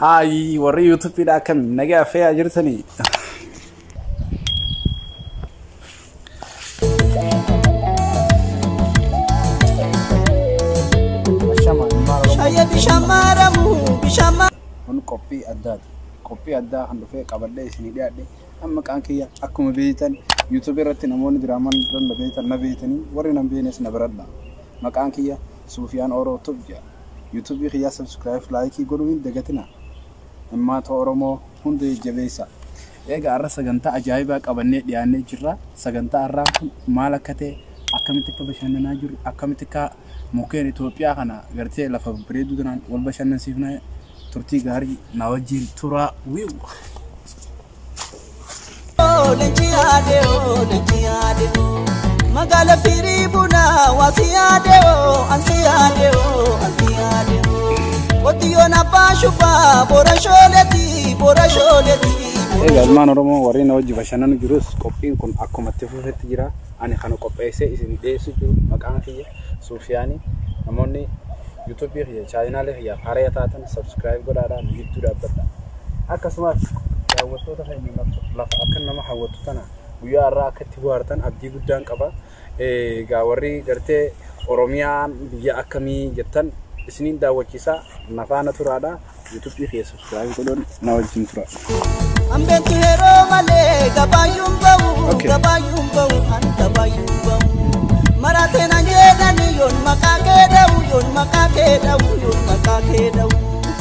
Haayi warri yuutuubiidha akkam nagaa fe'aa jirtanii. Shaya bishamaramu bishama. Kun qophii addaati. Qophii addaa kan dhufee qabadhee isinii dhiyaadhe. Amma qaan kiyya akkuma beektan yuutuubii irratti namoonni diraamaan na beektan na beektanii warri na beeknes na baradha. Maqaan kiyya Suufiyaan Ooroo Tub jedha. YouTube kiyyaa subscribe like godhuu hin dagatina immaata oromoo hunda jajjabeessa. Eegaa har'a sagantaa ajaa'ibaa qabannee dhiyaannee jirra. Sagantaa har'aan kun maal akka ta'e akkamitti akka bashannanaa jirru akkamitti akka mukkeen Itoophiyaa kana gartee lafa bareedduu tanaan wal bashannansiifna turtii gaarii na wajjin turaa wiiw. Leenci yaade oo leenci yaade magaala firii bunaa waasi yaade oo ansi yaade oo ansi yaade qotiyyoon abbaa shubaa boora shooleeti boora shooleeti. Egaa ilmaan Oromoo warri na wajji bashannanu jirus qophiin kun akkuma itti fufetti jira. Ani kana qopheessee isin dhiyeessu jiru maqaan kiyya Suufiyaanii namoonni yuutuubii kiyya chaayinaalee kiyyaaf haraya taatan sabskiraayib godhaadhaa nu gidduu dhaabbadha. akkasumas daawwattoota keenya lafa akka nama hawwatu tana guyyaa irraa akka itti bohaartan abdii guddaan qaba. Egaa warri gartee Oromiyaan biyya akkamii jettan isiniin daawwachiisa nafaana turaadha. Yuutuubii kee subscribe godhuun na wajjin tura. Ambeetu yeroo malee gabaayyuun ba'u Okay. gabaayyuun ba'u an gabaayyuun ba'u maraatee nan jedhani yoon maqaa kee dha'u yoon maqaa kee dha'u yoon maqaa kee dha'u.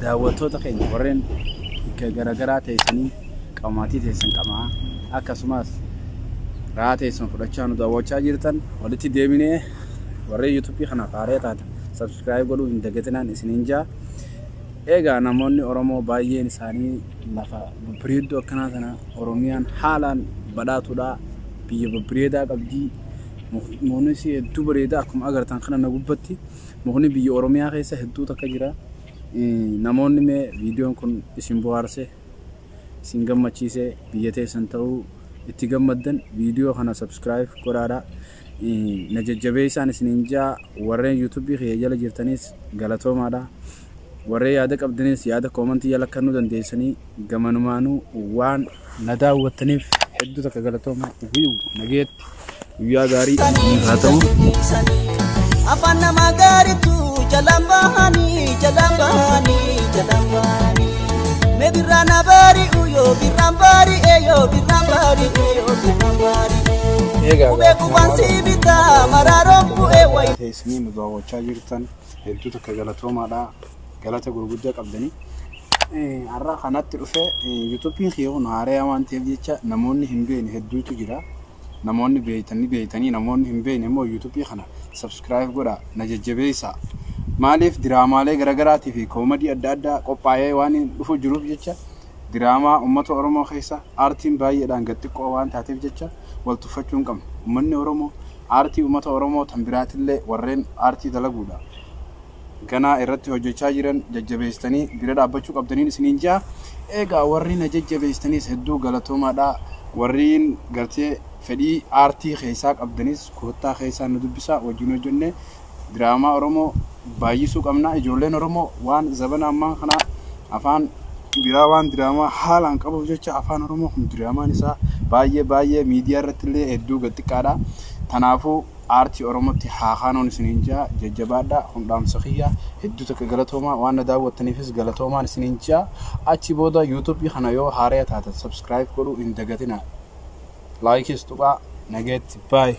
Daawwattoota keenya warreen bikka garagaraa teessanii qabamaatii teessan qamaa akkasumas raa teessan fudhachaa nu daawwachaa jirtan walitti deebinee warreen yuutuubii kanaaf haaree taata sabskiraayib godhuu hin dagatinaan isiniin jaa eegaa namoonni oromoo baay'een isaanii lafa babbareedduu akkanaa sana oromiyaan haalaan badhaatuudha biyya babbareedaa qabdii muunisi hedduu bareedaa akkuma agartan kana na gubbatti Mukni biyya Oromiyaa keessa hedduu takka jira. Namoonni mee viidiyoon kun isin bohaarse, isin gammachiise, biyya teessan ta'uu itti gammaddan viidiyoo kana subscribe godhaadha. Na jajjabeessaan isiniin jaa warreen YouTube kiyya jala jirtaniis galatoomaadha. Waree yaada qabdaniis yaada comment jala kannuu dandeessanii gamanumaanuu waan na daawwattaniif hedduu takka galatooma wiiw nageetti guyyaa gaarii isiniif haa ta'u. Afaan namaa gaariitu jalaan bahanii jalaan bahanii jalaan bahanii. Mee birraa na bari'u yoo birraan bari'e yoo birraan bari'e yoo birraan bari'e. Eegaa Qubee qubaan si bitaa maraaroon bu'ee wayi. Teessanii nu daawwachaa jirtan. hedduu takka galatoomaadha galata gurguddaa qabdanii. Har'a kanatti dhufee yuutuubiin kiyya kun haaraya waan ta'eef jecha namoonni hin beekne hedduutu jira. Namoonni beektanii beektanii namoonni hin beekne immoo yuutuubii kana sabskiraayib godhaa na jajjabeessaa. Maaliif diraamaalee garaagaraatii fi koomadii adda addaa qophaa'ee waan dhufu jiruuf jecha diraamaa uummata Oromoo keessa aartiin baay'eedhaan gad xiqqoo waan taateef jecha wal tuffachuu hin qabnu. Uummanni Oromoo Aartii ummata Oromoo tan biraatillee warreen aartii dalaguudhaaf ganaa irratti hojjachaa jiran jajjabeessitanii bira dhaabbachuu qabdaniin isiniin ja'a. Eegaa warri na jajjabeessitaniis hedduu galatoomaadha. Warriin gartee fedhii aartii keessaa qabdanis koottaa keessaa nu dubbisaa wajjin hojjannee diraamaa Oromoo baay'isuu qabna. Ijoolleen Oromoo waan zabana ammaa kanaa afaan biraa waan diraamaa haalaan qabuuf jecha afaan Oromoo kun diraamaan isaa baay'ee baay'ee miidiyaa irratti illee hedduu gad xiqqaadha. Kanaafuu aartii Oromootti haa kaanuun isiniin jaa jajjabaadha kun dhaamsa kiyya hedduu takka galatoomaa waan na daawwattaniifis galatoomaan isiniin jaa achi booda yuutuubii kana yoo haaraya taatan sabskiraayib godhuu hin dagatinaa laayikiis tuqaa nageetti baay'ee.